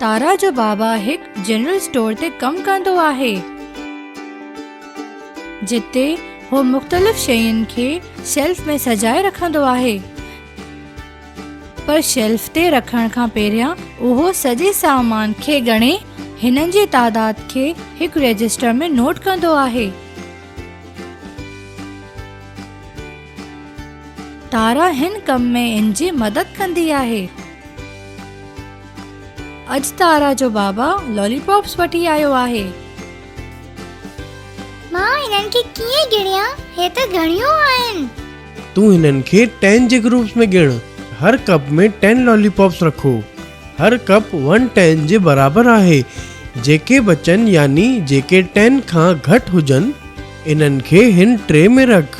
تارا جو بابا هڪ جنرل اسٽور تي ڪم ڪندو آهي جتي هو مختلف شين کي شيلف ۾ سجائي رکندو آهي پر شيلف تي رکڻ کان پهريان اهو سڄي سامان کي ڳڻي هنن جي تعداد کي هڪ رجسٽر ۾ نوٽ ڪندو آهي تارا هن ڪم ۾ ان جي مدد ڪندي آهي. اڄ تارا جو بابا لالي پاپس وٺي آيو آهي. مان هنن کي ڪيئن ڳڻيان هي ته گهڻيون آهن. تون هنن کي ٽين جي گروپس ۾ ڳڻ. هر ڪپ ۾ ٽين لالي پاپس رکو. هر ڪپ ون ٽين جي برابر آهي. جيڪي بچن يعني جيڪي ٽين کان گهٽ هجن انهن کي هن ٽري ۾ رک.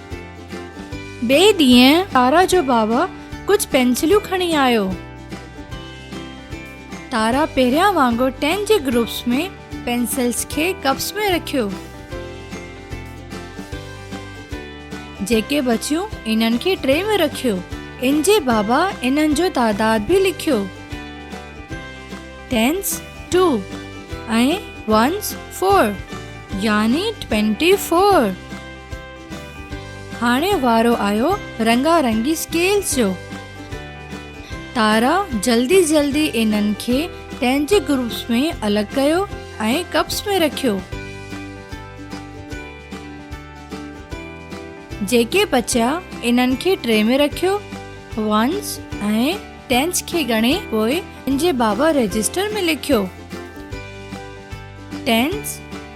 ٻئي ڏينهن تارا جو بابا ڪجهه پينسليون کڻي آيو. تارا پهريان وانگر ٽين جي گروپس ۾ پينسلس کي ڪپس ۾ رکيو. جيڪي بچيون انهن کي ٽري ۾ رکيو. ان جي بابا انهن جو تعداد به لکيو. ٽينس ٽو ۽ ونس فور يعني ٽوئنٽي فور. هاڻي وارو آيو رنگا رنگي اسڪيلز جو تارا جلدي جلدي انهن کي پنهنجي گروپس ۾ الڳ ڪيو ۽ ڪپس ۾ رکيو جيڪي بچيا انهن کي ٽري ۾ رکيو ونس ۽ ٽينس کي ڳڻي پوء ان جي بابا رجسٽر ۾ لکيو ٽينس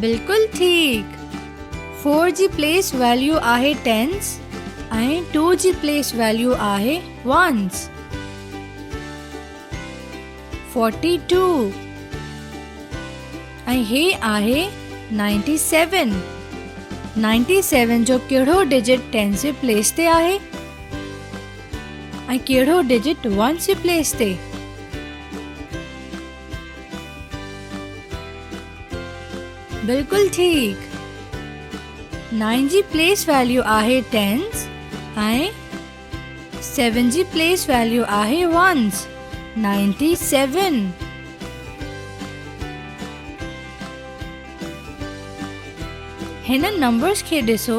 بلڪل ٺيڪ فور جي پليس ويليو آهي ٽينس ۽ ٽو جي پليس ويليو آهي ونس فورٽي ٽو ۽ هي آهي نائنٽي سيون نائنٽي سيون جو ڪهڙو ڊجٽ ٽينس جي پليس تي آهي ۽ ڪهڙو ڊجٽ ونس جي پليس تي بلڪل ٺيڪ نائن جي پليس ويليو آهي ٽينس ۽ سيون جي پليس ويليو آهي ونس نائنٽي سيون هن نمبرس کي ڏسو